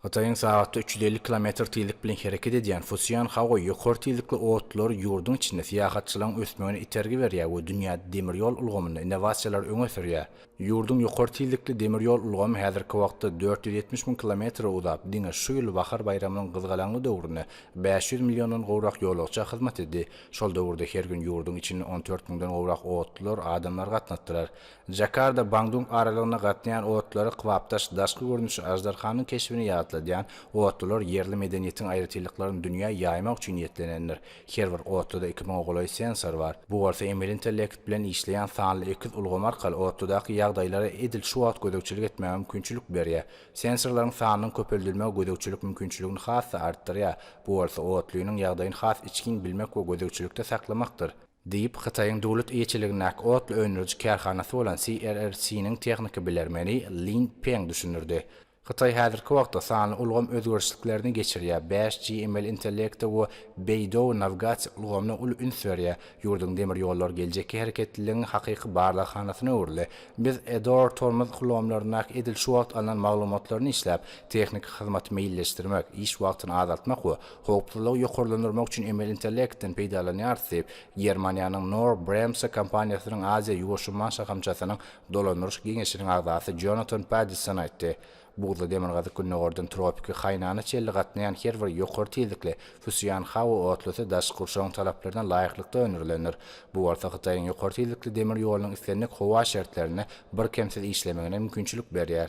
Hytaýyň sagatda üç ýüz elli kilometr tizlik bilen hereket edýän Fusian Haoy ýokary tizlikli otlary ýurduň içinde syýahatçylygyň ösmegine itergi berýär we dünýäde demir ýol ulgamynda innowasiýalary öňe sürýär. Ýurduň ýokary tizlikli demir ýol ulgamy häzirki wagtda dört ýüz ýetmiş müň kilometre uzap, diňe şu ýyl bahar baýramynyň gyzgalaňly döwründe bäş ýüz milliondan gowrak ýolagça hyzmat etdi. Şol döwürde her gün ýurduň içinde on dört müňden gowrak otlular adamlary gatnatdylar. Jakarda, Bandung aralygyna gatnaýan otlary kybapdaş daşky görnüşi aždarhanyň keşbini ýatladýan otlular ýerli medeniýetiň aýratynlyklaryny dünýä ýaýmak üçin niýetlenendir. Her bir otluda iki müňe golaý sensor bar. Bu bolsa emeli intellekt bilen işleýän sanly ekiz ulgamy arkaly otludaky ýagdaýlara edil şu wagt gözegçilik etmäge mümkinçilik berýär. Sensorlaryň sanynyň köpeldilmegi gözegçilik mümkinçiligini has-da artdyrýar, bu bolsa otlynyň ýagdaýyny has içgin bilmek we gözegçilikde saklamakdyr. diýip, Hytaýyň döwlet eýeçiligindäki otly öndüriji kärhanasy bolan CRRC-niň tehniki bilermeni Lin Peng düşündirdi. Hytaý häzirki wagtda sanly ulgam özgerişliklerini geçirýär, bäş G emeli intellekte we Beidou nawigasiýa ulgamyna uly üns berýär. Ýurduň demir ýollary geljekki hereketliligiň hakyky barlaghanasyna öwrüldi. Biz Edor tormoz ulgamlaryndaky edil şu wagt alnan maglumatlaryny işläp, tehniki hyzmaty meýilleşdirmek, iş wagtyny azaltmak we Howpsuzlygy ýokarlandyrmak üçin emeli intellektden peýdalanýarys diýip, Germaniýanyň Knorr-Bremse kompaniýasynyň Aziýa-Ýuwaş umman şahamçasynyň dolandyryş geňeşiniň agzasy Jonatan Paddison aýtdy. Buzly demirgazyk gündogardan tropiki Haýnana çenli gatnaýan her bir ýokary tizlikli Fusian howa otlusy daşky gurşawyň talaplaryna laýyklykda öndürilendir, bu bolsa Hytaýyň ýokary tizlikli demir ýolunyň islendik howa şertlerinde birkemsiz işlemegine mümkinçilik berýär.